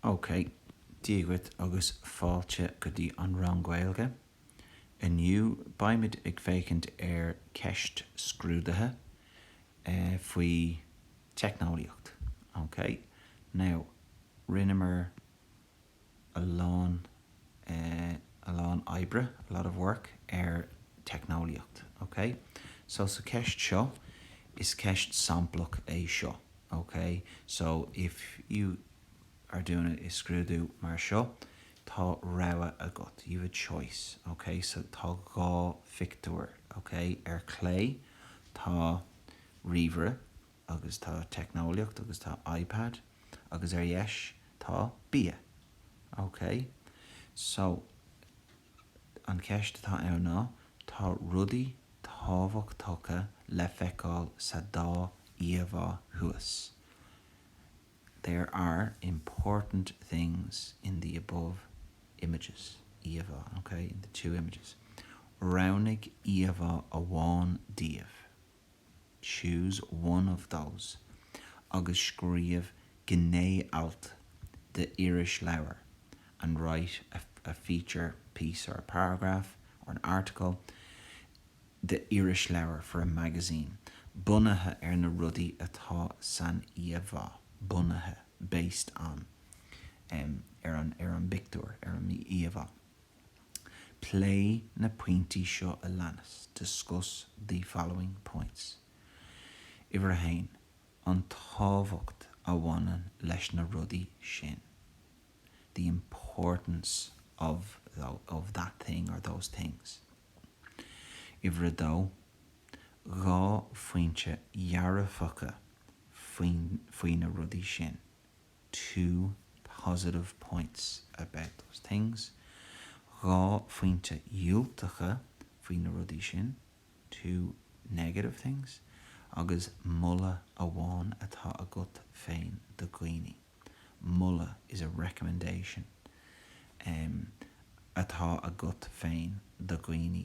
OK, Dia dhuit agus fáilte go dtí an rang Gaeilge. Inniu beimid ag féachaint ar ceist scrúdaithe faoi teicneolaíocht. OK, now rinneamar. a lán, a lán oibre, a lot of work, ar teicneolaíocht, ok? So, sa cheist seo, is ceist samplach é seo, ok? So, if you are doing a scrúdú mar seo, tá rogha agat, you've a choice, ok? So, tá dhá phictiúr, ok? Ar chlé, tá ríomhaire. agus tá teicneolaíocht agus tá iPad agus ar dheis tá bia. Ok. So, an cheist atá ann ná, tá rudaí tábhachtacha le feiceáil sa dá íomhá thuas. There are important things in the above images. íomhá, ok, in the two images. Roghnaigh íomhá amháin díobh. choose one of those agus scríobh gné-alt d'irisleabhar and write a feature piece or a paragraph or an article d'irisleabhar for a magazine bunaithe ar na rudaí atá san íomhá bunaithe based on ar an bpictiúr, ar an íomhá. Pléigh na pointí seo a leanas, Discuss the following points. Uimhir a haon, an tábhacht a bhaineann leis na rudaí sin, the importance of that thing or those things. Uimhir a dó, dhá phointe dhearfacha faoi na rudaí sin. two positive points about those things dhá phointe dhiúltacha faoi na rudaí sin two negative things agus moladh amháin atá agat féin do dhaoine, moladh is a recommendation, em, atá agat féin do dhaoine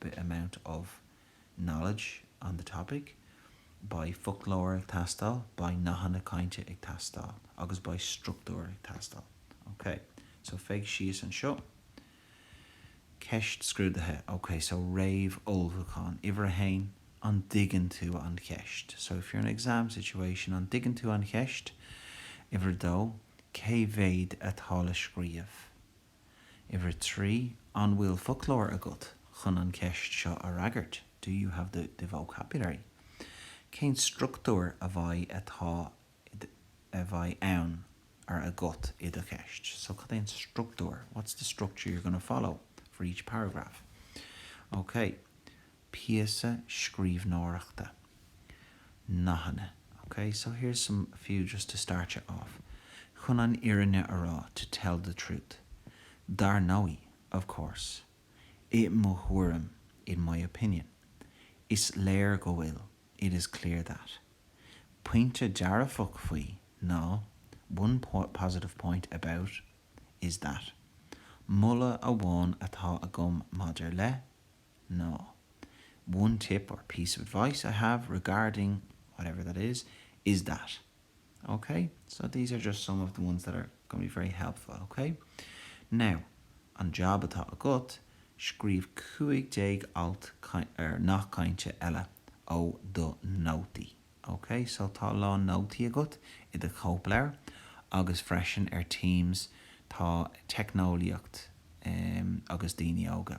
the amount of knowledge on the topic beidh foclóir ag teastáil, beidh nathanna cainte ag teastáil agus beidh struchtúr ag teastáil. Ok, so féach síos anseo. Ceist scrúdaithe. Ok, so réamh-ullmhúchán. Uimhir a haon, an dtuigeann tú an cheist? So if you're in an exam situation, an dtuigeann tú an cheist? Uimhir a dó, cé mhéad atá le scríobh? Uimhir a trí, an bhfuil foclóir agat chun an cheist seo a fhreagairt? Do you have the the vocabulary? Cén structúr a bheidh atá i do a bheidh ann or agat i do cheist? So cad é an structúr? What's the structure you're going to follow for each paragraph? Okay. píosa scríbhneoireachta, nathanna, ok, so here's some few just to start ya off, chun an fhírinne a rá, to tell the truth, dar ndóigh, of course, i mo thuairim, in my opinion, is léir go bhfuil, it is clear that, pointe dearfach faoi ná, one positive point about is that, moladh amháin atá agam maidir le, ná One tip or piece of advice I have regarding whatever that is, is that. OK? So these are just some of the ones that are going to be very helpful, OK? Now, an jab atá agat, scríobh cúig déag alt ar nathanna cainte eile ó do nótaí. OK? So tá a lán nótaí agat i do chóipleabhar agus freisin ar Teams tá teicneolaíocht em agus daoine óga.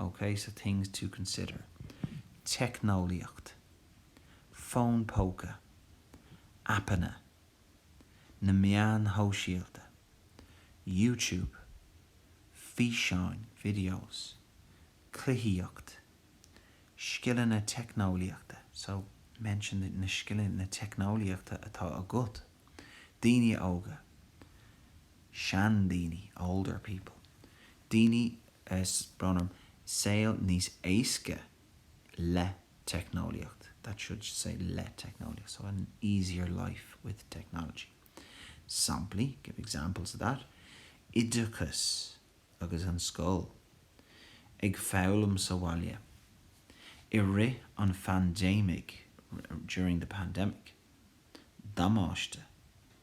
OK, so things to consider, teicneolaíocht, fón póca, aipeanna, na meáin shóisialta, YouTube, físeáin, videos, cluichíocht, scileanna teicneolaíochta, so mention the na scileanna teicneolaíochta atá agat, daoine óga, seandaoine, older people. Daoine. Is bronnann saol níos éasca le teicneolaíocht, that should say le teicneolaíocht, so an easier life with technology. Samplaí, give examples of that, oideachas agus an scoil, ag foghlaim sa bhaile, i rith an phaindéimigh, during the pandemic, damáiste.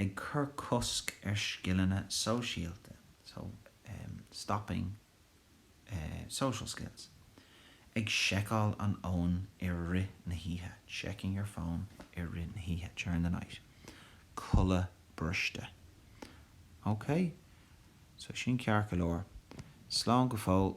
ag cur cosc ar scileanna sóisialta so, um stopping eh social skills ag seiceáil an fhóin i rith na hoíche, checking your phone i rith na hoíche, during the night codladh briste. Okay? So sin ceart go leor. Slán go fóill.